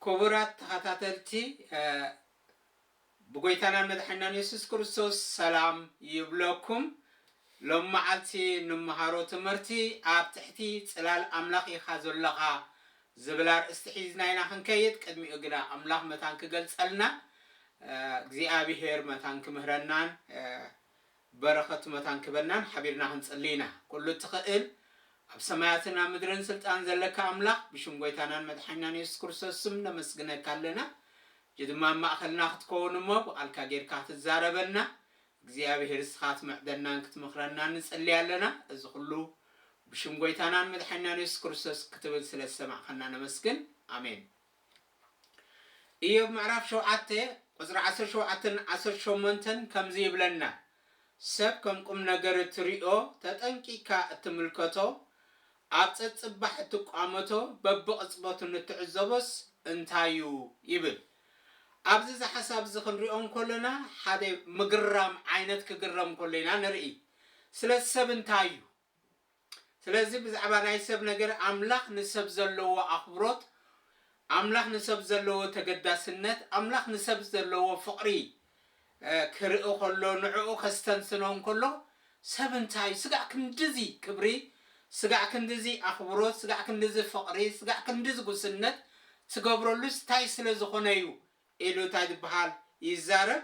ኩቡራት ተኸታተልቲ ብጎይታናን መድሓኒናን የሱስ ክርስቶስ ሰላም ይብለኩም ሎም መዓልቲ ንመሃሮ ትምህርቲ ኣብ ትሕቲ ጽላል ኣምላኽ ኢኻ ዘሎኻ ዝብል ኣርእስቲ ሒዝና ኢና ክንከይድ ቅድሚኡ ግና ኣምላኽ መታን ክገልጸልና እግዚኣብሄር መታን ክምህረናን በረኸቱ መታን ክበናን ሓቢርና ክንጽሊ ኢና። ኩሉ እትኸእል ኣብ ሰማያትን ኣብ ምድርን ስልጣን ዘለካ ኣምላኽ ብሽም ጎይታናን መድሓኒናን የሱስ ክርስቶስ ስም ነመስግነካ ኣለና ሕጂ ድማ ኣብ ማእኸልና ክትከውን እሞ ብቓልካ ጌርካ ክትዛረበና እግዚኣብሄር እስኻ ትምዕደናን ክትመኽረናን ንጽሊ ኣለና እዚ ኩሉ ብሽም ጎይታናን መድሓኒናን የሱስ ክርስቶስ ክትብል ስለ ዝሰማዕኻና ነመስግን ኣሜን። እዮብ ምዕራፍ ሸውዓተ ቁጽሪ ዓሰርተ ሸውዓተን ዓሰርተ ሸሞንተን ከምዚ ይብለና፣ ሰብ ከም ቁምነገር እትርእዮ፣ ተጠንቂቕካ እትምልከቶ፣ ኣብ ጸጽባሕ እትቋመቶ፣ በብቕጽበቱ ንትዕዘቦስ እንታይ እዩ? ይብል። ኣብዚ እዚ ሓሳብ እዚ ክንሪኦ እንከሎና ሓደ ምግራም ዓይነት ክግረም ከሎ ኢና ንርኢ። ስለዚ ሰብ እንታይ እዩ? ስለዚ ብዛዕባ ናይ ሰብ ነገር ኣምላኽ ንሰብ ዘለዎ ኣኽብሮት ኣምላኽ ንሰብ ዘለዎ ተገዳስነት ኣምላኽ ንሰብ ዘለዎ ፍቕሪ ክርኢ ከሎ ንዕኡ ከስተንትኖ እንከሎ ሰብ እንታይ ስጋዕ ክንድዚ ክብሪ ስጋዕ ክንድዚ ኣኽብሮት ስጋዕ ክንድዚ ፍቕሪ ስጋዕ ክንድዚ ጉስነት ትገብረሉስ ታይ ስለዝኾነ'ዩ ኢሉ እንታይ ዝብሃል ይዛረብ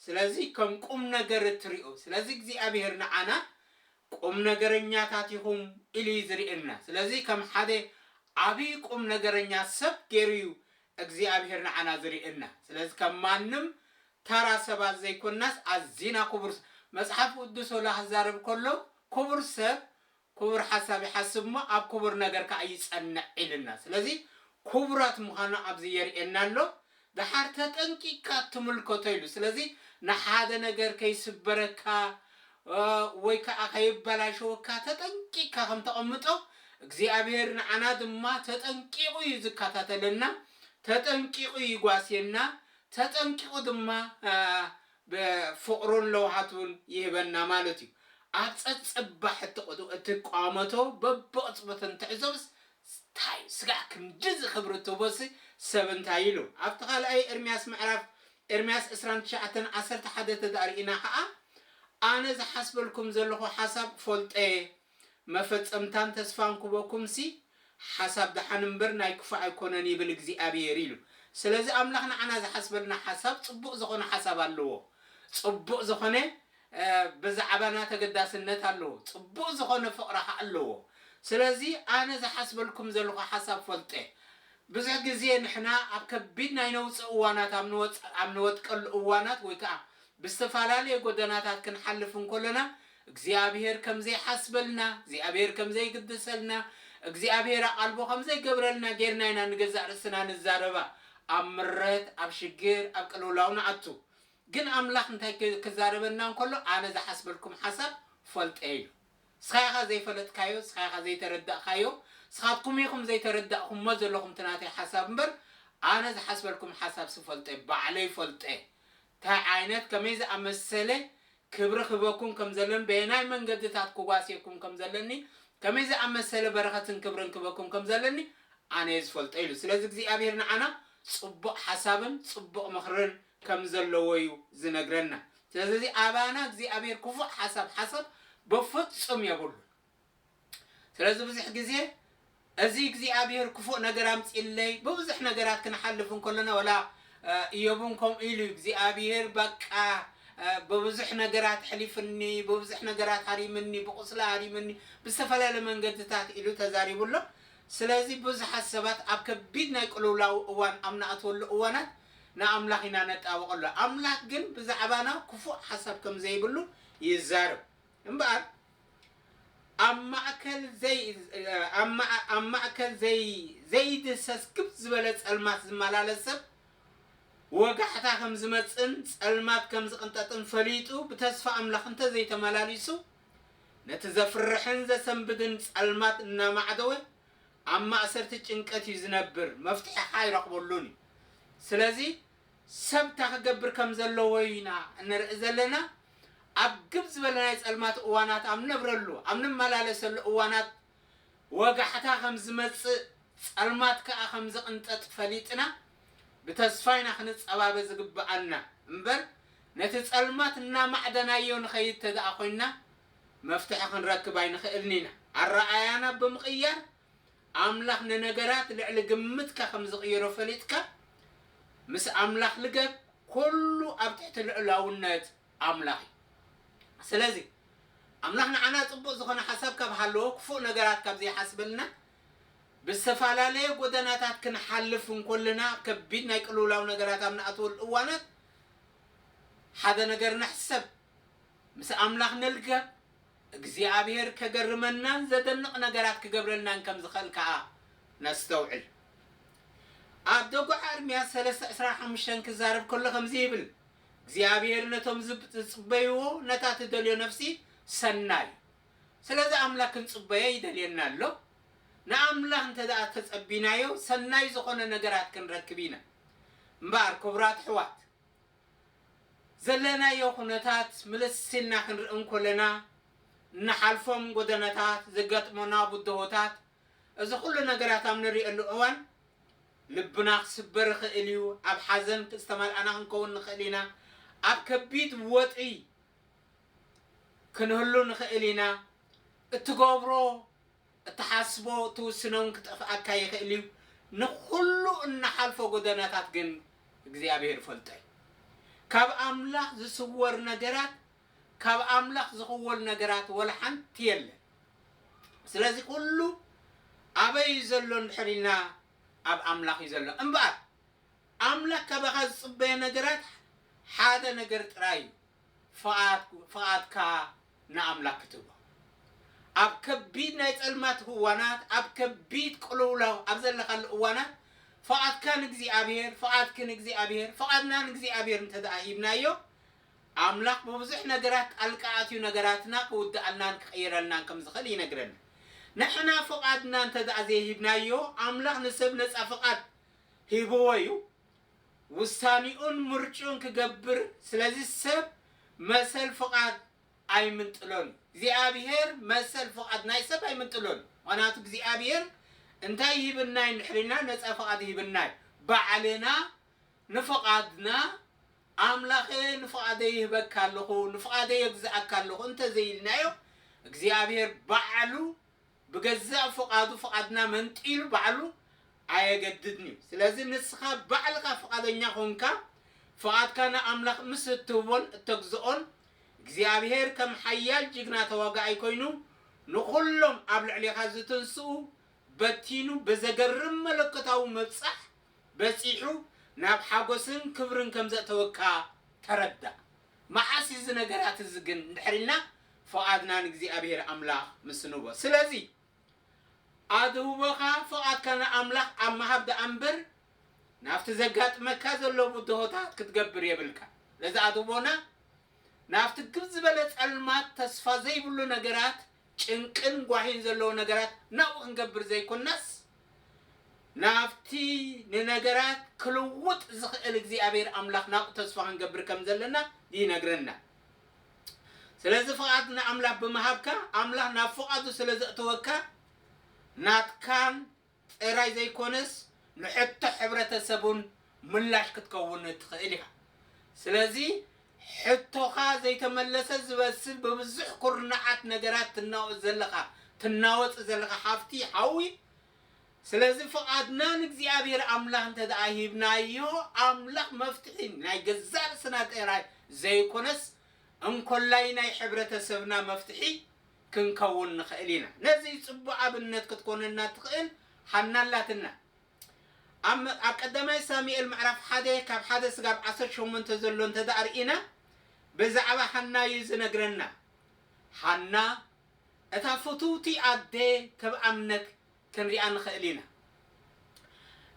ስለዚ ከም ቁምነገር እትሪኡ ስለዚ እግዚኣብሄር ንዓና ቁምነገረኛታት ኢኹም ኢሉ እዩ ዝሪእየና ስለዚ ከም ሓደ ዓብይ ቁምነገረኛ ሰብ ገይሩ እዩ እግዚኣብሄር ንዓና ዝሪእየና ስለዚ ከም ማንም ተራ ሰባት ዘይኮናስ ኣዚና ኩቡር መፅሓፍ ቁዱስ ወላ ክዛረብ ከሎ ኩቡር ሰብ ኩቡር ሓሳብ ይሓስብ እሞ ኣብ ኩቡር ነገር ካኣ ይጸንዕ ኢልና ስለዚ ኩቡራት ምኻና ኣብዚ የርእየና ኣሎ ዳሓር ተጠንቂቅካ ትምልከቶ ኢሉ ስለዚ ንሓደ ነገር ከይስበረካ ወይ ካኣ ከይበላሸወካ ተጠንቂቅካ ከም ተቀምጦ እግዚኣብሄር ንዓና ድማ ተጠንቂቁ እዩ ዝካታተለና ተጠንቂቁ ይጓስየና ተጠንቂቁ ድማ ብፍቕሩን ለውሃቱን ይህበና ማለት እዩ። ኣብ ጸጽባሕ እትቋመቶ በብቕጽበቱ እንትዕዘብስ፣ ታይ ስጋዕ ክንድዚ ክብሪ ትህቦሲ ሰብ እንታይ ኢሉ? ኣብቲ ካልኣይ ኤርምያስ ምዕራፍ፣ ኤርምያስ ዕስራን ትሽዓተን ዓሰርተ ሓደ ተድኣ ርኢና ከኣ፣ ኣነ ዝሓስበልኩም ዘለኹ ሓሳብ ፈልጦ እየ፣ መፈጸምታን ተስፋን ኩበኩምሲ ሓሳብ ደሓን እምበር ናይ ክፉእ ኣይኮነን ይብል እግዚኣብሄር ኢሉ ስለዚ ኣምላኽ ንዓና ዝሓስበልና ሓሳብ ጽቡቅ ዘኾነ ሓሳብ ኣለዎ ጽቡቅ ዘኾነ ብዛዕባና ተገዳስነት ኣለዎ ጽቡቅ ዘኾነ ፍቅሪ ኸኣ ኣለዎ ስለዚ ኣነ ዝሓስበልኩም ዘለኹ ሓሳብ ፈልጠ ብዙሕ ግዜ ንሕና ኣብ ከቢድ ናይ ነውጺ እዋናት ኣብ ንወድቀሉ እዋናት ወይ ከኣ ብዝተፋላለየ ጎደናታት ክንሓልፍ እንኮለና እግዚኣብሄር ከም ዘይሓስበልና፣ እግዚኣብሄር ከም ዘይግደሰልና፣ እግዚኣብሄር ኣቓልቦ ከም ዘይገብረልና ጌርና ኢና ንገዛእ ርእስና ንዛረባ። ኣብ ምረት፣ ኣብ ሽግር፣ ኣብ ቅልውላው ንኣቱ። ግን ኣምላኽ እንታይ ከ ክዛረበና እንከሎ ኣነ ዝሓስበልኩም ሓሳብ ፈልጠ ኢሉ። ስኻ ኢኻ ዘይፈለጥካዮ፣ ስኻ ኢኻ ዘይተረዳእካዮ፣ ስኻትኩም ኢኹም ዘይተረዳእኩሞ ዘለኹም እቲ ናተይ ሓሳብ እምበር ኣነ ዝሓስበልኩም ሓሳብ ስፈልጠ ባዕለይ ፈልጠ። ታይ ዓይነት ከመይ ዝኣመሰለ ክብሪ ክህበኩም ከም ዘለኒ በየናይ መንገድታት ክጓስየኩም ከም ዘለኒ ከመይ ዝኣመሰለ በረኸትን ክብርን ክህበኩም ከም ዘለኒ ኣነ እየ ዝፈልጦ ኢሉ ስለዚ እግዚኣብሄር ንዓና ጽቡቕ ሓሳብን ጽቡቕ ምኽርን ከም ዘለዎ እዩ ዝነግረና ስለዚ ኣባና እግዚኣብሄር ክፉእ ሓሳብ ሓሳብ በፍጹም የብሉን። ስለዚ ብዙሕ ግዜ እዚ እግዚኣብሄር ክፉእ ነገር ኣምጺእለይ ብብዙሕ ነገራት ክንሓልፍ እንከሎና ወላ እዮብ እውን ከምኡ ኢሉ እዩ እግዚኣብሄር በቃ ብብዙሕ ነገራት ሕሊፍኒ ብብዙሕ ነገራት ሃሪምኒ ብቁስሊ ሃሪምኒ ብዝተፈላለየ መንገድታት ኢሉ ተዛሪቡ ኣሎ ስለዚ ብዙሓት ሰባት ኣብ ከቢድ ናይ ቅልውላው እዋን ኣብ ንኣትወሉ እዋናት ንኣምላኽ ኢና ነጣብቐሉ ኣምላኽ ግን ብዛዕባና ክፉእ ሓሳብ ከም ዘይብሉ ይዛረብ እምበኣር ኣብ ማእከል ዘይ ኣብ ማእ ኣብ ማእከል ዘይ ዘይድህሰስ ግብ ዝበለ ጸልማት ዝመላለስ ሰብ፣ ወጋሕታ ከም ዝመጽእን ጸልማት ከም ዝቕንጠጥን ፈሊጡ ብተስፋ ኣምላኽ እንተ ዘይተመላሊሱ፣ ነቲ ዘፍርሕን ዘሰንብድን ጸልማት እናማዕደወ ኣብ ማእሰርቲ ጭንቀት እዩ ዝነብር፣ መፍትሒ ከኣ ኣይረኽበሉን እዩ። ስለዚ ሰብ እንታይ ክገብር ከም ዘለዎ ኢና እንርኢ ዘለና። ኣብ ግብ ዝበለ ናይ ጸልማት እዋናት ኣብ ንነብረሉ፣ ኣብ ንመላለሰሉ እዋናት ወጋሕታ ከም ዝመጽእ፣ ጸልማት ከኣ ከም ዝቕንጠጥ ፈሊጥና ብተስፋ ኢና ክንጸባበ ዝግብኣና እምበር ነቲ ጸልማት እናማዕደናዮ ንኸይድ ተድኣ ኮይንና መፍትሒ ክንረክብ ኣይንኽእልን ኢና። ኣረኣእያና ብምቕያር ኣምላኽ ንነገራት ልዕሊ ግምትካ ከም ዝቕይሮ ፈሊጥካ፣ ምስ ኣምላኽ ልገብ፣ ኩሉ ኣብ ትሕቲ ልዑላውነት ኣምላኽ እዩ። ስለዚ፣ ኣምላኽ ንዓና ጽቡቕ ዝኾነ ሓሳብ ካብ ሃለዎ፣ ክፉእ ነገራት ካብ ዘይሓስበልና፣ ብዝተፈላለየ ጎደናታት ክንሓልፍ እንኮለና፣ ከቢድ ናይ ቅልውላው ነገራት ኣብ ንኣትወሉ እዋናት፣ ሓደ ነገር ንሕሰብ፣ ምስ ኣምላኽ ንልገብ። እግዚኣብሄር ከገርመናን ዘደንቕ ነገራት ክገብረልናን ከም ዝኸእል ከኣ ነስተውዕል። ኣብ ደጉዓ እርምያስ ሰለስተ ዕስራን ሓሙሽተን ክዛረብ ከሎ ከምዚ ይብል፣ እግዚኣብሄር ነቶም ዝጽበይዎ ነታ ትደልዮ ነፍሲ ሰናይ ስለዚ ኣምላኽ ክንጽበዮ ይደልየና ኣሎ። ንኣምላኽ እንተድኣ ተጸቢናዮ ሰናይ ዝኾነ ነገራት ክንረክብ ኢና። እምበኣር ክቡራት ኣሕዋት ዘለናዮ ኩነታት ምልስ ኢልና ክንርኢ እንኮለና፣ እንሓልፎም ጎደናታት፣ ዘጋጥሞና ብድሆታት፣ እዚ ኩሉ ነገራት ኣብ ንርእየሉ እዋን ልብና ክስበር ይኽእል እዩ፣ ኣብ ሓዘን ዝተመልኣና ክንከውን ንኽእል ኢና፣ ኣብ ከቢድ ወጥሪ ክንህሉ ንኽእል ኢና፣ እትገብሮ። እትሓስቦ ትውስኖን ክጠፍኣካ ይኽእል እዩ፣ ንኹሉ እንሓልፎ ጎደናታት ግን እግዚኣብሄር ይፈልጦ እዩ። ካብ ኣምላኽ ዝስወር ነገራት ካብ ኣምላኽ ዝኽወል ነገራት ወላ ሓንቲ የለን። ስለዚ ኩሉ ኣበይ እዩ ዘሎ እንድሕር ኢልና ኣብ ኣምላኽ እዩ ዘሎ። እምበኣር ኣምላኽ ካባኻ ዝጽበዮ ነገራት ሓደ ነገር ጥራይ እዩ። ፍቓድ ፍቓድካ ንኣምላክ ክትቦ ኣብ ከቢድ ናይ ጸልማት ህዋናት ኣብ ከቢድ ቅልውላው ኣብ ዘለካሉ እዋናት ፍቓድካ ንእግዚኣብሔር ፍቓድኪ ንእግዚኣብሔር ፍቓድና ንእግዚኣብሔር እንተድኣ ሂብናዮ ኣምላክ ብብዙሕ ነገራት ጣልቃ ኣትዩ ነገራትና ክውድኣልናን ክቕይረልናን ከም ዝኽእል ይነግረና ንሕና ፍቓድና እንተድኣ ዘይሂብናዮ ኣምላክ ንሰብ ነጻ ፍቓድ ሂብዎ እዩ ውሳኒኡን ምርጭኡን ክገብር ስለዚ ሰብ መሰል ፍቃድ ኣይምንጥሎን እዩ እግዚኣብሔር መሰል ፍቃድ ናይ ሰብ ኣይምንጥሎን እዩ ምክንያቱ እግዚኣብሔር እንታይ ይህብና እዩ እንድሕር ኢልና ነፃ ፍቃድ ይህብና እዩ ባዕልና ንፍቃድና ኣምላከ ንፍቃደይ ይህበካ ኣለኩ ንፍቃደይ የግዝኣካ ኣለኩ እንተዘይ ኢልናዮ እግዚኣብሔር ባዕሉ ብገዛእ ፍቓዱ ፍቓድና መንጢሉ ባዕሉ ኣየገድድን እዩ። ስለዚ ንስኻ ባዕልኻ ፍቓደኛ ኾንካ ፍቓድካ ንኣምላኽ ምስ እትህቦን እተግዝኦን፣ እግዚኣብሄር ከም ሓያል ጅግና ተዋጋኣይ ኮይኑ ንኹሎም ኣብ ልዕሌኻ ዝትንስኡ በቲኑ ብዘገርም መለኮታዊ ምብጻሕ በጺሑ ናብ ሓጎስን ክብርን ከም ዘእተወካ ተረዳእ። መዓስ እዩ እዚ ነገራት እዚ ግን እንድሕር ኢልና ፍቓድና ንእግዚኣብሄር ኣምላኽ ምስ እንህቦ። ስለዚ ኣድህቦኻ ፍቓድካ ንኣምላኽ ኣብ ምሃብ ደኣ እምበር ናብቲ ዘጋጥመካ ዘሎ ብድሆታት ክትገብር የብልካ። ስለዚ ኣድህቦና ናብቲ ግብ ዝበለ ጸልማት ተስፋ ዘይብሉ ነገራት ጭንቅን ጓሂን ዘለዎ ነገራት ናብኡ ክንገብር ዘይኮናስ ናብቲ ንነገራት ክልውጥ ዝኽእል እግዚኣብሔር ኣምላኽ ናብኡ ተስፋ ክንገብር ከም ዘለና ይነግረና። ስለዚ ፍቓድ ንኣምላኽ ብምሃብካ ኣምላኽ ናብ ፍቓዱ ስለ ዘእተወካ ናትካን ጥራይ ዘይኮነስ ንሕቶ ሕብረተሰብ'ውን ምላሽ ክትከውን ትኽእል ኢኻ። ስለዚ ሕቶኻ ዘይተመለሰ ዝመስል ብብዙሕ ኩርናዓት ነገራት ትናወጽ ዘለኻ ትናወጽ ዘለኻ ሃፍቲ ሓዊ ስለዚ ፍቓድና ንእግዚኣብሄር ኣምላኽ እንተድኣ ሂብናዮ ኣምላኽ መፍትሒ ናይ ገዛእ ርእስና ጥራይ ዘይኮነስ እንኮላይ ናይ ሕብረተሰብና መፍትሒ ክንከውን ንኽእል ኢና። ነዚ ጽቡቕ ኣብነት ክትኮነና እትኽእል ሓና ኣላትና። ኣብ ኣብ ቀዳማይ ሳሙኤል ምዕራፍ ሓደ ካብ ሓደ ስጋብ ዓሰርተ ሸሞንተ ዘሎ እንተድኣ ርኢና ብዛዕባ ሓና እዩ ዝነግረና። ሓና እታ ፍትውቲ ኣደ ተብኣምነት ክንሪኣ ንኽእል ኢና።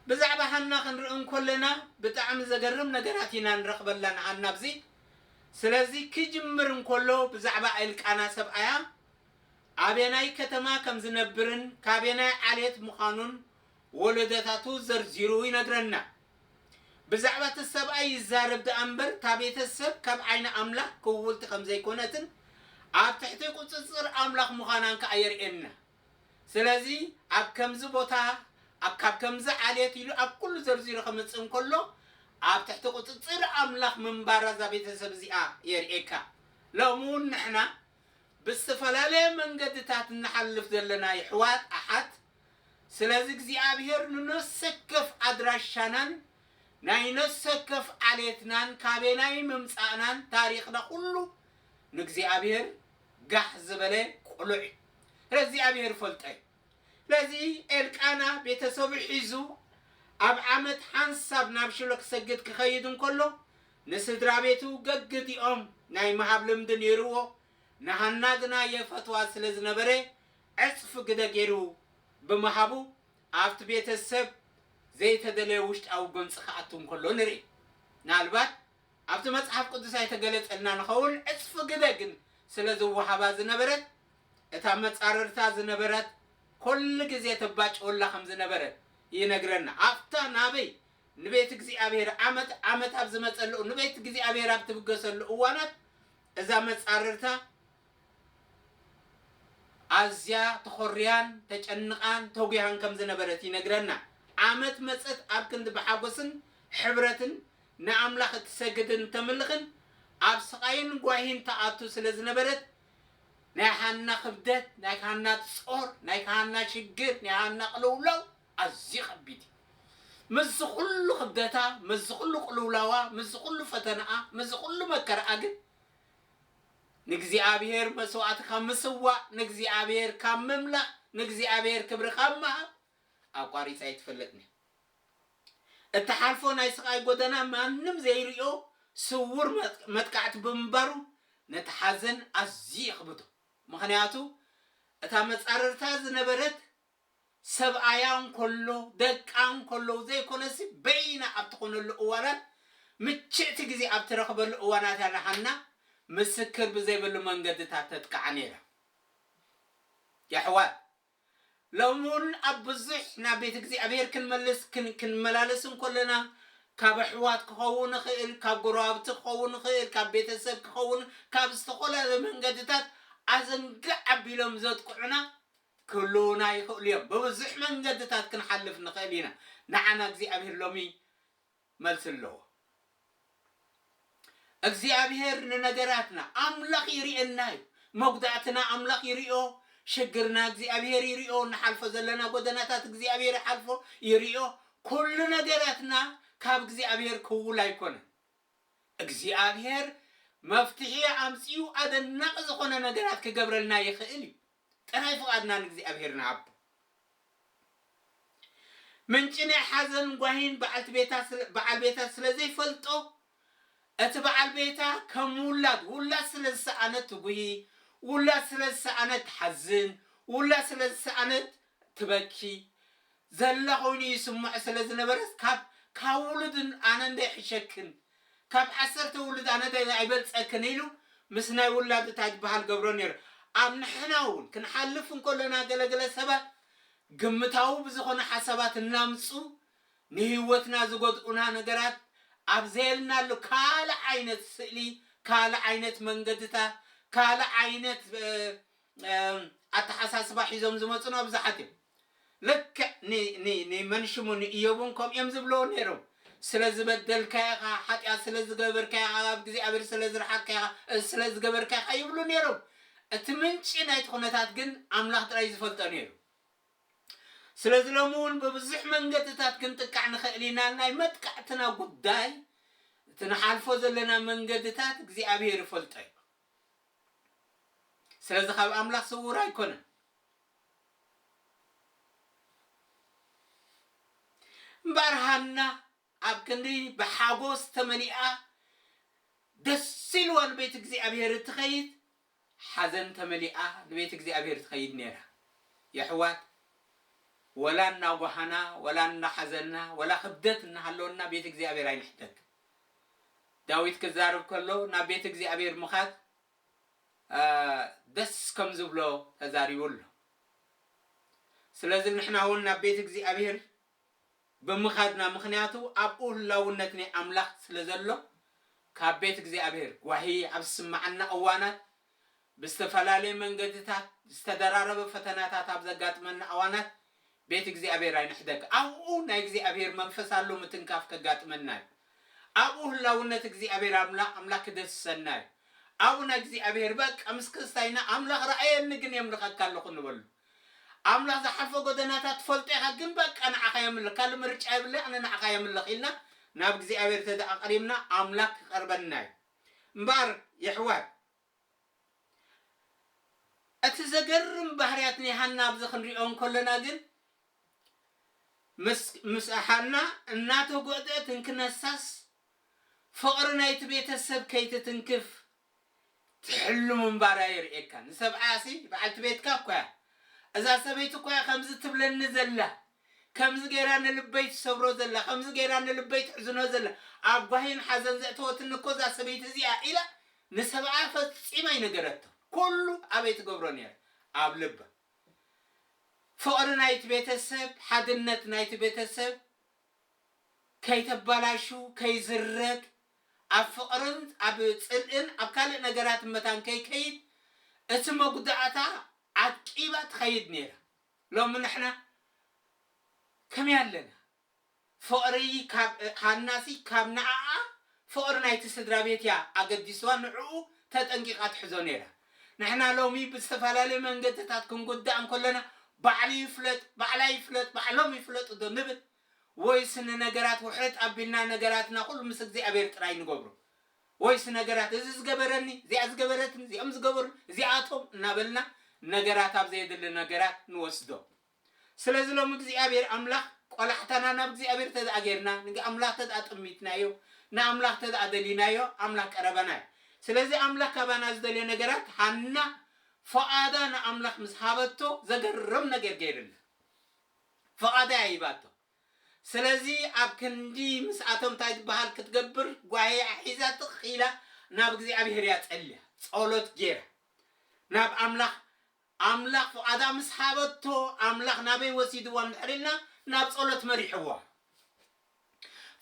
ብዛዕባ ሃና ክንርኢ እንኮለና ብጣዕሚ ዘገርም ነገራት ኢና ንረኽበላ ንሃና ኣብዚ ስለዚ ክጅምር እንኮሎ ብዛዕባ እልቃና ሰብኣያ ኣበየናይ ከተማ ከም ዝነብርን ካበየናይ ዓሌት ምዃኑን ወለዶታቱ ዘርዚሩ ይነግረና ብዛዕባ እቲ ሰብኣይ ይዛረብ ድኣ እምበር እታ ቤተሰብ ካብ ዓይኒ ኣምላኽ ክውውልቲ ከም ዘይኮነትን ኣብ ትሕቲ ቁጽጽር ኣምላኽ ምዃናን ከኣ የርእየና። ስለዚ ኣብ ከምዚ ቦታ ኣብ ካብ ከምዚ ዓሌት ኢሉ ኣብ ኩሉ ዘርዚሩ ከምጽእ እንከሎ ኣብ ትሕቲ ቁጽጽር ኣምላኽ ምንባራ እዛ ቤተሰብ እዚኣ የርእየካ። ሎሚ ውን ንሕና ብዝተፈላለየ መንገድታት እንሓልፍ ዘለና የሕዋት ኣሓት ስለዚ እግዚኣብሄር ንነፍሰከፍ ኣድራሻናን ናይ ነፍሰከፍ ዓሌትናን ካበናይ ምምጻእናን ታሪኽና ኩሉ ንእግዚኣብሄር ጋሕ ዝበለ ቁሉዕ እዩ ረዚኣብሄር ፈልጦ እዩ ስለዚ ኤልቃና ቤተሰቡ ሒዙ ኣብ ዓመት ሓንሳብ ናብ ሽሎ ክሰግድ ክከይድ እንከሎ ንስድራቤቱ ገግቲኦም ናይ ምሃብ ልምዲ ኔርዎ ንሃና ግና የፈትዋ ስለ ዝነበረ ዕጽፊ ግደ ጌሩ ብምሃቡ ኣብቲ ቤተሰብ ዘይተደለየ ውሽጣዊ ጎንጺ ክኣቱ እንከሎ ንርኢ ምናልባት ኣብቲ መጽሓፍ ቅዱስ ኣይተገለጸልናን ይኸውን፣ ዕጽፊ ግደ ግን ስለ ዝወሃባ ዝነበረት፣ እታ መጻርርታ ዝነበረት ኰሉ ግዜ ተባጭወላ ከም ዝነበረት ይነግረና። ኣብታ ናበይ ንቤት እግዚኣብሄር ዓመት ዓመት ኣብ ዝመጸሉ ንቤት እግዚኣብሄር ኣብ ትብገሰሉ እዋናት እዛ መጻርርታ ኣዝያ ተዀርያን ተጨንቓን ተጒሃን ከም ዝነበረት ይነግረና። ዓመት መጸት ኣብ ክንዲ ብሓጐስን ሕብረትን ንኣምላኽ እትሰግድን እተምልኽን ኣብ ስቓይን ጓሂን ትኣቱ ስለ ዝነበረት፣ ናይ ሃና ክብደት፣ ናይ ሃና ጾር፣ ናይ ሃና ሽግር፣ ናይ ሃና ቅልውላው ኣዝዩ ከቢድ እዩ። ምስዚ ዅሉ ክብደታ፣ ምስዚ ዅሉ ቅልውላዋ፣ ምስዚ ዅሉ ፈተናኣ፣ ምስዚ ዅሉ መከራኣ ግን ንእግዚኣብሄር መስዋእቲ ካብ ምስዋእ፣ ንእግዚኣብሄር ካብ ምምላኽ፣ ንእግዚኣብሄር ክብሪ ካብ ምሃብ ኣቋሪጻ ኣይትፈልጥን እያ። እትሓልፎ ናይ ስቓይ ጎደና ማንም ዘይርእዮ ስዉር መጥቃዕቲ ብምንባሩ ነቲ ሓዘን ኣዝዩ የኽብዶ። ምኽንያቱ እታ መጻርርታ ዝነበረት ሰብኣያ እንከሎ ደቃ እንከለዉ ዘይኮነሲ በይና ኣብ ትኾነሉ እዋናት ምችእቲ ግዜ ኣብ ትረኽበሉ እዋናት እያ ንሃና ምስክር ብዘይብሉ መንገድታት ተጥቅዓ ነይራ። የሕዋት ሎሚውን ኣብ ብዙሕ ናብ ቤት እግዚኣብሔር ክንመልስ ክንመላለስ እንኮለና ካብ ኣሕዋት ክኸውን ይኽእል ካብ ጎረባብቲ ክኸውን ይኽእል ካብ ቤተሰብ ክኸውን ካብ ዝተፈላለዩ መንገድታት ኣዘንግዕ ኣቢሎም ዘጥቅዑና ክህልዉና ይኽእሉ እዮም ብብዙሕ መንገድታት ክንሓልፍ ንኽእል ኢና ንዓና እግዚኣብሔር ሎሚ መልሲ ኣለዎ። እግዚኣብሄር ንነገራትና ኣምላኽ ይርእየና እዩ መጉዳእትና ኣምላኽ ይርእዮ ሽግርና እግዚኣብሄር ይርእዮ ንሓልፎ ዘለና ጎደናታት እግዚኣብሄር ይሓልፎ ይርእዮ ኩሉ ነገራትና ካብ እግዚኣብሄር ክውል ኣይኮነን እግዚኣብሄር መፍትሒ ኣምጺኡ ኣደናቂ ዝኾነ ነገራት ክገብረልና ይኽእል እዩ ጥራይ ፍቓድና ንእግዚኣብሄር ንሃብ። ምንጪ ናይ ሓዘንን ጓሂን በዓልቲ ቤታ ስለ በዓል ቤታ ስለ ዘይፈልጦ፣ እቲ በዓል ቤታ ከም ውላድ፣ ውላድ ስለ ዝሰኣነት ትጉሂ፣ ውላድ ስለ ዝሰኣነት ትሓዝን፣ ውላድ ስለ ዝሰኣነት ትበኪ ዘላ ኮይኑ ይስምዖ ስለ ዝነበረስ ካብ ካብ ውሉድ ኣነ እንዶ ይሕሸክን ካብ ዓሰርተ ውሉድ ኣነ ዶ ኣይበልጸክን ኢሉ ምስ ናይ ውላዱ ታይ ዝበሃል ገብሮ ኔሩ ኣብ ንሕና ውን ክንሓልፍ እንከሎና ገለ ገለ ሰባት ግምታዊ ብዝኾነ ሓሳባት እናምጹ ንሂወትና ዝጎድኡና ነገራት ኣብ ዘየልናሉ ካልእ ዓይነት ስእሊ ካልእ ዓይነት መንገድታ ካልእ ዓይነት ኣተሓሳስባ ሒዞም ዝመጹና ብዙሓት እዮም። ልክዕ ን ን ንመን ሽሙ ንእዮብ እውን ከምኡ እዮም ዝብልዎ ነይሮም። ስለ ዝበደልካዮ ኢኻ፣ ሓጢኣት ስለ ዝገበርካዮ ኢኻ፣ ካብ እግዚኣብሔር ስለ ዝረሓቅካ ኢኻ፣ እዚ ስለ ዝገበርካ ኢኻ ይብሉ ነይሮም። እቲ ምንጪ ናይቲ ኩነታት ግን ኣምላኽ ጥራይ እዩ ዝፈልጦ ነይሩ። ስለዚ ሎሚ እውን ብብዙሕ መንገድታት ክንጥቃዕ ንኽእል ኢና። ናይ መጥቃዕትና ጉዳይ እቲ ንሓልፎ ዘለና መንገድታት እግዚኣብሔር ይፈልጦ እዩ። ስለዚ ካብ ኣምላኽ ስዉር ኣይኮነን። እምበኣር ሃና ኣብ ክንዲ ብሓጐስ ተመሊኣ ደስ ኢልዋ ንቤት እግዚኣብሄር እትኸይድ፣ ሓዘን ተመሊኣ ንቤት እግዚኣብሄር ትኸይድ ነይራ። የሕዋት ወላ እናጓሃና ወላ እናሓዘና ወላ ክብደት እናሃለወና ቤት እግዚኣብሄር ኣይንሕተትን። ዳዊት ክዛረብ ከሎ ናብ ቤት እግዚኣብሔር ምኻድ ደስ ከምዝብሎ ተዛሪቡ ኣሎ ስለዚ ንሕና ውን ናብ ቤት እግዚኣብሔር ብምኻድና ምኽንያቱ ኣብኡ ህላውነት ናይ ኣምላኽ ስለዘሎ ካብ ቤት እግዚኣብሔር ጓሂ ኣብ ዝስመዓና እዋናት ብዝተፈላለየ መንገድታት ዝተደራረበ ፈተናታት ኣብ ዘጋጥመና ኣዋናት ቤት እግዚኣብሔር ኣይንሕደግ ኣብኡ ናይ እግዚኣብሔር መንፈስ ኣሎ ምትንካፍ ከጋጥመና እዩ ኣብኡ ህላውነት እግዚኣብሔር ኣምላክ ክደስሰና እዩ ኣብኡ ናይ እግዚኣብሔር በቃ ምስ ክስታይና ኣምላክ ረኣየኒ ግን የምልከካ ኣለኩ ንበሉ ኣምላክ ዝሓልፎ ጎደናታት ትፈልጦ ኢካ ግን በቃ ንዓካ የምልክ ካልእ ምርጫ የብለይ ኣነ ንዓካ የምልክ ኢልና ናብ እግዚኣብሔር ተደኣ ቀሪብና ኣምላክ ክቀርበና እዩ እምበኣር የሕዋት እቲ ዘገርም ባህርያት ናይ ሃና ኣብዚ ክንሪኦ እንከሎና ግን ምስ ምስ ሃና እናተጎእጠት እንክነሳስ ፍቕሪ ናይቲ ቤተ ሰብ ከይትትንክፍ ትሕሉ ምንባራ የርእየካ። ንሰብኣያሲ በዓልቲ ቤትካ እኮ እያ እዛ ሰበይቲ እኮ እያ ከምዚ ትብለኒ ዘላ ከምዚ ገይራ ንልበይ ትሰብሮ ዘላ ከምዚ ገይራ ንልበይ ትሕዝኖ ዘላ ኣብ ጓሂን ሓዘን ዘእተወትኒ እኮ እዛ ሰበይቲ እዚኣ ኢላ ንሰብኣያ ፈጺማ ኣይነገረቶን ኩሉ ኣበይ ትገብሮ ኔራ ኣብ ልባ ፍቕሪ ናይቲ ቤተሰብ ሓድነት ናይቲ ቤተሰብ ከይተባላሽው ከይዝረግ ኣብ ፍቕርን ኣብ ጽልእን ኣብ ካልእ ነገራትን መታን ከይከይድ እቲ መጉዳእታ ዓቂባ ትኸይድ ኔራ። ሎሚ ንሕና ከመይ ኣለና ፍቕሪ ካብ ሃናጺ ካብ ንኣኣ ፍቕሪ ናይቲ ስድራቤት እያ ኣገዲስዋ ንዕኡ ተጠንቂቓ ትሕዞ ኔራ ንሕና ሎሚ ብዝተፈላለየ መንገድታት ክንጉዳእ እንከሎና ባዕሉ ይፍለጥ ባዕላ ይፍለጥ ባዕሎም ይፍለጡ ዶ ንብል ወይስ ንነገራት ውሕጥ ኣቢልና ነገራትና ኩሉ ምስ እግዚኣብሄር ጥራይ ንገብሮ ወይስ ነገራት እዚ ዝገበረኒ፣ እዚኣ ዝገበረትኒ፣ እዚኦም ዝገበሩኒ፣ እዚኣቶም እናበልና ነገራት ኣብ ዘየድሊ ነገራት ንወስዶ። ስለዚ ሎሚ እግዚኣብሔር ኣምላኽ ቆላሕታና ናብ እግዚኣብሔር ተድኣ ጌርና፣ ንኣምላኽ ተድኣ ጠሚትናዮ፣ ንኣምላኽ ተድኣ ደሊናዮ ኣምላኽ ቀረባና እዩ። ስለዚ ኣምላኽ ካባና ዝደልዮ ነገራት ሃና ፍቓዳ ንኣምላኽ ምስ ሃበቶ ዘገርም ነገር ገይርላ። ፍቓዳ እያ ሂባቶ። ስለዚ ኣብ ክንዲ ምስኣቶም እንታይ ዝበሃል ክትገብር ጓሂኣ ሒዛ ትኽ ኢላ ናብ እግዚኣብሄር እያ ጸልያ ጸሎት ጌራ ናብ ኣምላኽ ኣምላኽ ፍቓዳ ምስ ሃበቶ ኣምላኽ ናበይ ወሲድዋ እንድሕር ኢልና ናብ ጸሎት መሪሕዋ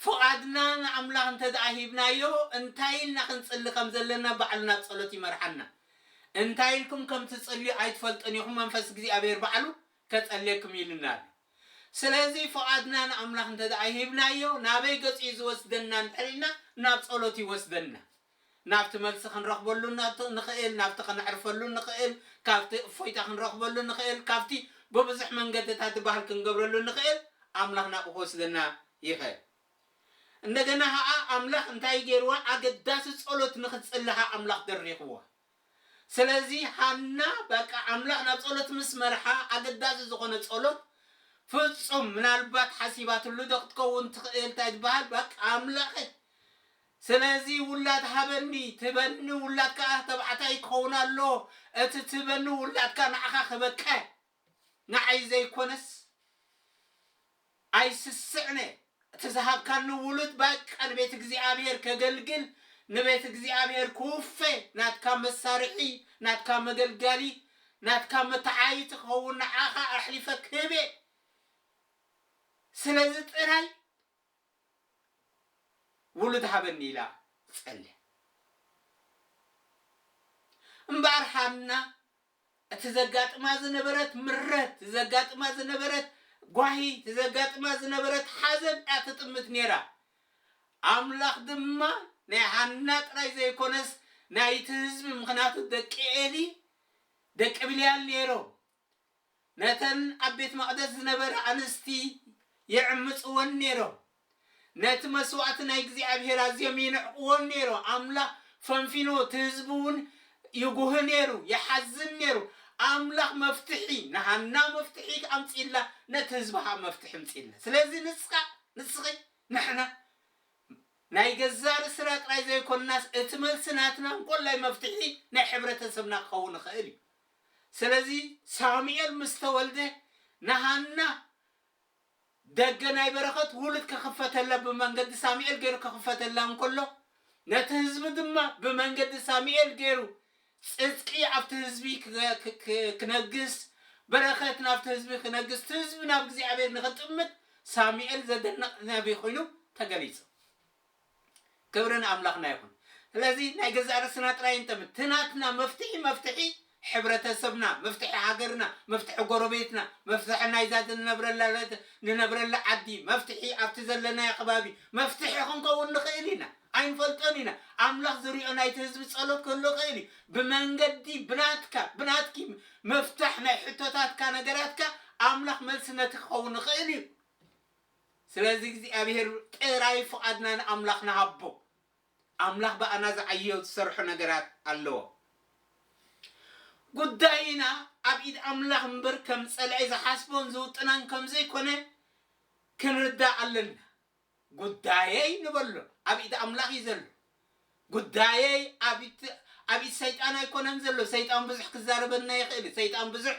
ፍቓድና ንኣምላኽ እንተ ደኣ ሂብናዮ እንታይ ኢልና ክንጽሊ ከም ዘለና ባዕሉ ናብ ጸሎት ይመርሓና እንታይ ኢልኩም ከም ትጽልዩ ኣይትፈልጡን ኢኹም መንፈስ እግዚኣብሄር ባዕሉ ከጸልየኩም ኢሉና ኣሎ ስለዚ ፍቓድና ንኣምላኽ እንተ ደኣ ሂብናዮ ናበይ ገጹ እዩ ዝወስደና እንድሕር ኢልና ናብ ጸሎት ይወስደና ናብቲ መልሲ ክንረኽበሉ ንኽእል ናብቲ ከነዕርፈሉ ንኽእል ካብቲ እፎይታ ክንረኽበሉ ንኽእል ካብቲ ብብዙሕ መንገድታት ዝበሃል ክንገብረሉ ንኽእል ኣምላኽ ናብኡ ክወስደና ይኽእል እንደገና ኸኣ ኣምላኽ እንታይ ገይርዋ ኣገዳሲ ጸሎት ንኽትጽሊ ኸኣ ኣምላኽ ደሪኽዋ ስለዚ ሃና በቃ ኣምላኽ ናብ ጸሎት ምስ መርሓ ኣገዳዚ ዝኾነ ጸሎት ፍጹም ምናልባት ሓሲባትሉ ዶ ክትከውን ትኽእል ታይ ዝበሃል በቃ ኣምላኸ ስለዚ ውላድ ሃበኒ ትበኒ ውላድ ከኣ ተባዕታይ ክኸውን ኣለዎ እቲ ትበኒ ውላድካ ንዓኻ ክበቅዕ ንዓይ ዘይኮነስ ኣይስስዕነ እቲ ዝሃብካኒ ውሉድ ባቃ ንቤት እግዚኣብሔር ከገልግል ንቤት እግዚኣብሔር ክውፈ ናትካ መሳርሒ ናትካ መገልጋሊ ናትካ መተዓይይቲ ክኸውን ንዓኻ ኣሕሊፈ ክህቤ ስለዚ ጥራይ ውሉድ ሃበኒ ኢላ ትጸልያ እምበኣር ሃና እቲ ዘጋጥማ ዝነበረት ምረት፣ እቲ ዘጋጥማ ዝነበረት ጓሂ፣ እቲ ዘጋጥማ ዝነበረት ሓዘን እያ ትጥምት ነይራ። ኣምላኽ ድማ ናይ ሃና ጥራይ ዘይኰነስ ናይቲ ህዝቢ፣ ምኽንያቱ ደቂ ኤሊ ደቂ ብልያል ነይሮም፣ ነተን ኣብ ቤት መቕደስ ዝነበራ ኣንስቲ ይዕምጽወን ነይሮም። ነቲ መስዋእቲ ናይ እግዚኣብሄር ኣዝዮም ይንዕቅዎን ነይሮ ኣምላኽ ፈንፊኑ እቲ ህዝቢ ውን ይጉህ ነይሩ ይሓዝን ነይሩ ኣምላኽ መፍትሒ ንሃና መፍትሒ ኣምጺእላ ነቲ ህዝቢ ከኣ መፍትሒ ኣምጺእላ ስለዚ ንስካ ንስኪ ንሕና ናይ ገዛእ ርስና ጥራይ ዘይኮናስ እቲ መልሲ ናትና እንኮላይ መፍትሒ ናይ ሕብረተሰብና ክከውን ይክእል እዩ ስለዚ ሳሙኤል ምስ ተወልደ ንሃና ደገ ናይ በረኸት ውሉድ ከኽፈተላ ብመንገዲ ሳሚኤል ገይሩ ከኽፈተላ እንከሎ ነቲ ህዝቢ ድማ ብመንገዲ ሳሚኤል ገይሩ ጽድቂ ኣብቲ ህዝቢ ክነግስ በረኸት ናብቲ ህዝቢ ክነግስ እቲ ህዝቢ ናብ እግዚኣብሔር ንኽጥምት ሳሚኤል ዘደንቕ ነቢ ኮይኑ ተገሊጹ። ክብሪ ንኣምላኽና ይኹን። ስለዚ ናይ ገዛእ ርእስና ጥራይ እንተም እቲ ናትና መፍትሒ መፍትሒ ሕብረተሰብና፣ መፍትሒ ሃገርና፣ መፍትሒ ጎረቤትና፣ መፍትሒ ናይዛ ንነብረላ ንነብረላ ዓዲ፣ መፍትሒ ኣብቲ ዘለናዮ ከባቢ መፍትሒ ክንከውን ንኽእል ኢና። ኣይንፈልጦን ኢና። ኣምላኽ ዝሪኦ ናይቲ ህዝቢ ጸሎት ክህሉ ይኽእል እዩ። ብመንገዲ ብናትካ ብናትኪ ምፍታሕ ናይ ሕቶታትካ ነገራትካ ኣምላኽ መልሲ ነቲ ክኸውን ይኽእል እዩ። ስለዚ እግዚኣብሄር ጥራይ ፍቓድና ንኣምላኽ ንሃቦ። ኣምላኽ ብኣና ዝዓዮ ዝሰርሖ ነገራት ኣለዎ። ጉዳይና ኣብ ኢድ ኣምላኽ እምበር ከም ጸላኢ ዝሓስቦን ዝውጥናን ከም ዘይኮነ ክንርዳእ ኣለና። ጉዳየይ ንበሎ ኣብ ኢድ ኣምላኽ እዩ ዘሎ። ጉዳየይ ኣብ ኣብ ሰይጣን ኣይኮነን ዘሎ ሰይጣን ብዙሕ ክዛረበና ይኽእል እዩ ሰይጣን ብዙሕ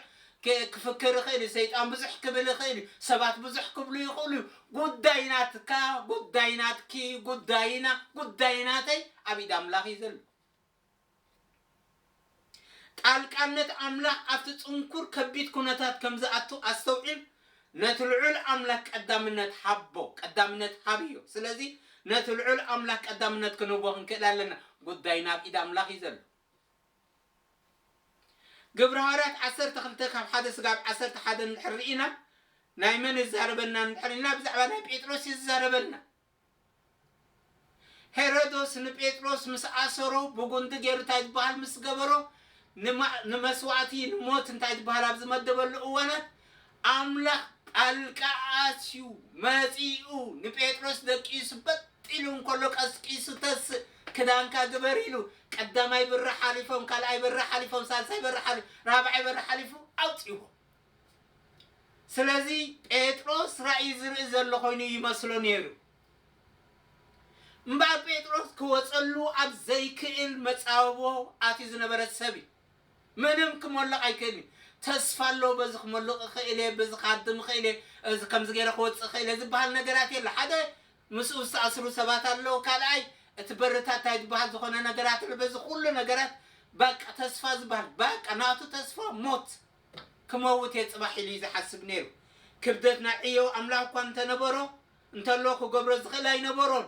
ክፍክር ይኽእል እዩ ሰይጣን ብዙሕ ክብል ይኽእል እዩ ሰባት ብዙሕ ክብሉ ይኽእሉ እዩ ጉዳይ ናትካ ጉዳይ ናትኪ ጉዳይና ጉዳይ ናተይ ኣብ ኢድ ኣምላኽ እዩ ዘሎ ጣልቃነት ኣምላኽ ኣብቲ ጽንኩር ከቢድ ኩነታት ከም ዝኣቱ ኣስተውዕል፣ ነቲ ልዑል ኣምላኽ ቀዳምነት ሃቦ፣ ቀዳምነት ሃብዮ። ስለዚ ነቲ ልዑል ኣምላኽ ቀዳምነት ክንህቦ ክንክእል ኣለና፣ ጉዳይና ኣብ ኢድ ኣምላኽ እዩ ዘሎ። ግብሪ ሃዋርያት ዓሰርተ ክልተ ካብ ሓደ ስጋብ ዓሰርተ ሓደ እንድሕር ርኢና ናይ መን ይዛረበና እንድሕር ኢልና ብዛዕባ ናይ ጴጥሮስ እዩ ዝዛረበና። ሄሮዶስ ንጴጥሮስ ምስ ኣሰሮ ብጉንዲ ገይሩ እንታይ ዝበሃል ምስ ገበሮ ንማእ ንመስዋእቲ ንሞት እንታይ ዝበሃል ኣብ ዝመደበሉ እዋናት ኣምላኽ ጣልቃ ኣትዩ መጺኡ ንጴጥሮስ ደቂሱ በጥ ኢሉ እንከሎ ቀስቂሱ ተስእ ክዳንካ ግበር ኢሉ ቀዳማይ ብሪ ሓሊፎም ካልኣይ በሪ ሓሊፎም ሳልሳይ በሪ ሓሊፎም ራብዓይ በሪ ሓሊፉ ኣውጺዎ። ስለዚ ጴጥሮስ ራእይ ዝርኢ ዘሎ ኮይኑ ይመስሎ ነይሩ። እምበኣር ጴጥሮስ ክወጸሉ ኣብ ዘይክእል መጻብቦ ኣትዩ ዝነበረ ሰብ እዩ። ምንም ክሞልቕ ኣይክእልን እዩ። ተስፋ ኣለዎ በዚ ክሞልቕ እኽእል እየ፣ በዚ ክሃድም እኽእል እየ፣ እዚ ከምዚ ገይረ ክወጽእ እኽእል እየ ዝበሃል ነገራት የለ። ሓደ ምስኡ ዝተኣስሩ ሰባት ኣለዉ፣ ካልኣይ እቲ በርታት እንታይ ዝበሃል ዝኾነ ነገራት ኣሎ። በዚ ኩሉ ነገራት በቃ ተስፋ ዝበሃል በቃ ናቱ ተስፋ ሞት ክመውት እየ ጽባሕ ኢሉ እዩ ዝሓስብ ነይሩ። ክብደት ናይ ዕዮ ኣምላኽ እኳ እንተ ነበሮ እንተሎ ክገብሮ ዝኽእል ኣይነበሮን።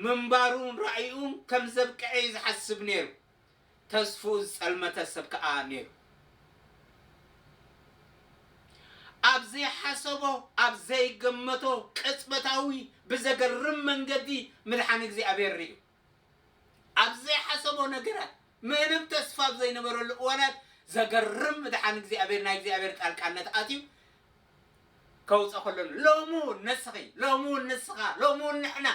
ምንባሩን ራእዩኡን ከም ዘብቅዐ እዩ ዝሓስብ ነይሩ። ተስፍኡ ዝጸልመተ ሰብ ከኣ ነይሩ። ኣብ ዘይሓሰቦ ኣብ ዘይገመቶ ቅጽበታዊ ብዘገርም መንገዲ ምድሓን እግዚኣብሔር ርእዩ። ኣብ ዘይሓሰቦ ነገራት ምንም ተስፋ ኣብ ዘይነበረሉ እዋናት ዘገርም ምድሓን እግዚኣብሔር ናይ እግዚኣብሔር ጣልቃነት ኣትዩ ከውፀ ከሎ ሎሚ እውን ንስኺ ሎሚ እውን ንስኻ ሎሚ እውን ንሕና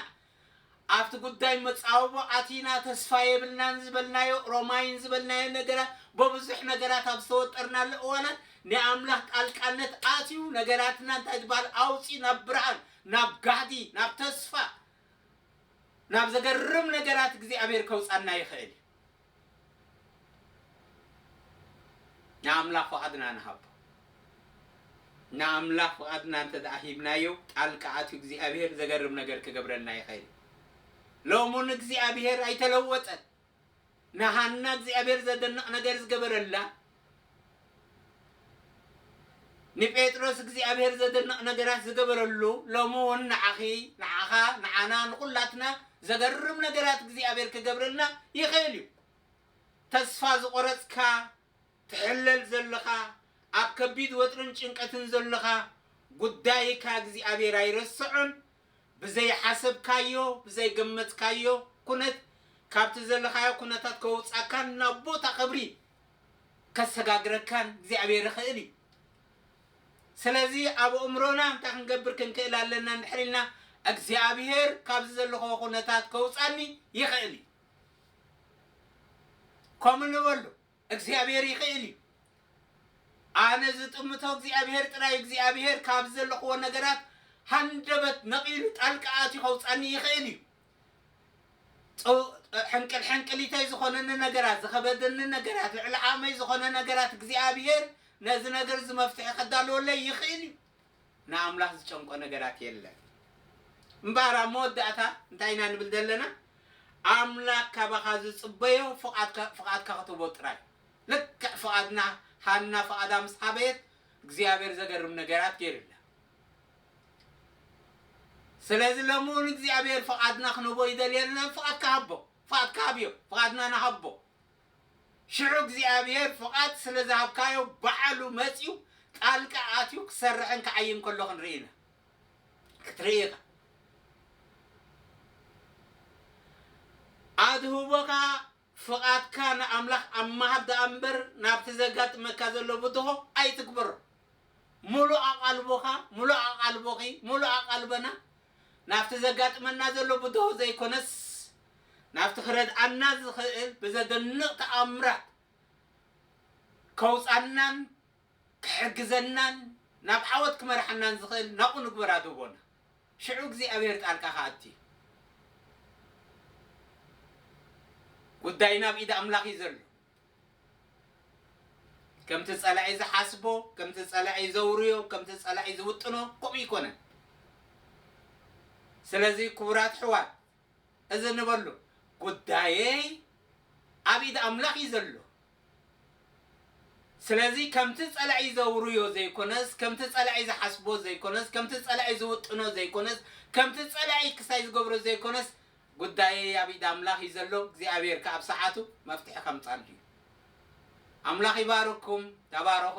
ኣብቲ ጉዳይ መፃወቦ ኣቲና ተስፋ የብልናን ዝበልናዮ ሮማይን ዝበልናዮ ነገራት በብዙሕ ነገራት ኣብ ዝተወጠርናሉ እዋናት ናይ ኣምላኽ ጣልቃነት ኣትዩ ነገራትና እንታይ ዝበሃል ኣውፂ ናብ ብርሃን ናብ ጋህዲ ናብ ተስፋ ናብ ዘገርም ነገራት እግዚኣብሔር ከውጻና ይኽእል እዩ። ንኣምላኽ ፍቓድና ንሃቦ። ንኣምላኽ ፍቓድና እንተ ደኣ ሂብናዮ ጣልቃ ኣትዩ እግዚኣብሔር ዘገርም ነገር ክገብረልና ይኽእል እዩ። ሎሙን እግዚኣብሔር ኣይተለወጠን። ንሃና እግዚኣብሔር ዘደንቕ ነገር ዝገበረላ፣ ንጴጥሮስ እግዚኣብሔር ዘደንቕ ነገራት ዝገበረሉ፣ ሎሚ ውን ንዓኺ፣ ንዓኻ፣ ንዓና፣ ንኹላትና ዘገርም ነገራት እግዚኣብሔር ክገብረልና ይኽእል እዩ። ተስፋ ዝቖረጽካ፣ ትሕለል ዘለኻ፣ ኣብ ከቢድ ወጥርን ጭንቀትን ዘለኻ፣ ጉዳይካ እግዚኣብሔር ኣይረሰዖን፣ ብዘይሓሰብካዮ ብዘይገመትካዮ ኩነት ካብቲ ዘለኻዮ ኩነታት ከውጻካን ናብ ቦታ ክብሪ ከሰጋግረካን እግዚኣብሔር ይኽእል እዩ ስለዚ ኣብ ኣእምሮና እንታይ ክንገብር ክንክእል ኣለና እንድሕር ኢልና እግዚኣብሔር ካብዚ ዘለኾ ኩነታት ከውጻኒ ይኽእል እዩ ከምኡ ንበሉ እግዚኣብሔር ይክእል እዩ ኣነ ዝጥምቶ እግዚኣብሔር ጥራይ እግዚኣብሔር ካብ ዘለክዎ ነገራት ሃንደበት ነቂሉ ጣልቃ ኣትዩ ከውጻኒ ይክእል እዩ ጸው ሕንቅል ሕንቅሊተይ ዝኮነኒ ነገራት ዝከበደኒ ነገራት ልዕሊ ዓቅመይ ዝኮነ ነገራት እግዚኣብሔር ነዚ ነገር እዚ መፍትሒ ከዳልወለይ ይክእል እዩ ንኣምላኽ ዝጨንቆ ነገራት የለን። እምበኣር ኣብ መወዳእታ እንታይ ኢና ንብል ዘለና? ኣምላኽ ካባኻ ዝጽበዮ ፍቓድካ ፍቓድካ ክትህቦ ጥራይ። ልክዕ ፍቓድና ሃና ፍቓዳ ምስ ሓበየት እግዚኣብሔር ዘገርም ነገራት ገይሩላ። ስለዚ ሎሚ እውን እግዚኣብሔር ፍቓድና ክንህቦ ይደልየልና፣ ፍቓድካ ሃቦ፣ ፍቓድካ ሃብዮ፣ ፍቓድና ንሃቦ። ሽዑ እግዚኣብሄር ፍቓድ ስለ ዝሃብካዮ ባዕሉ መጺኡ ጣልቃ ኣትዩ ክሰርሕን ክዓይን ከሎ ክንርኢ ኢና። ክትርኢ ኢኻ። ኣድህቦኻ ፍቓድካ ንኣምላኽ ኣብ ምሃብ ደኣ እምበር ናብቲ ዘጋጥመካ ዘሎ ብድሆ ኣይትግበሮ። ምሉእ ኣቓልቦኻ፣ ምሉእ ኣቓልቦኺ፣ ምሉእ ኣቓልቦና ናብቲ ዘጋጥመና ዘሎ ብድሆ ዘይኮነስ ናብቲ ክረድኣና ዝኽእል ብዘደንቕ ተኣምራት ከውጻናን ክሕግዘናን ናብ ዓወት ክመርሓናን ዝኽእል ናብኡ ንግበር ኣድህቦና። ሽዑ እግዚኣብሄር ጣልቃ ክኣቱ እዩ። ጉዳይና ኣብ ኢድ ኣምላኽ እዩ ዘሎ። ከምቲ ጸላኢ ዝሓስቦ፣ ከምቲ ጸላኢ ዘውርዮ፣ ከምቲ ጸላኢ ዝውጥኖ ከምኡ ኣይኮነን። ስለዚ ክቡራት ኣሕዋት እዚ ንበሎ ጉዳየይ ኣብ ኢድ ኣምላኽ እዩ ዘሎ ስለዚ ከምቲ ጸላኢ ዘውርዮ ዘይኮነስ ከምቲ ጸላኢ ዝሓስቦ ዘይኮነስ ከምቲ ጸላኢ ዝውጥኖ ዘይኮነስ ከምቲ ጸላኢ ክሳይ ዝገብሮ ዘይኮነስ ጉዳየይ ኣብ ኢድ ኣምላኽ እዩ ዘሎ እግዚኣብሔር ከ ኣብ ሰዓቱ መፍትሒ ከምጻሉ እዩ ኣምላኽ ይባርኩም ተባረኹ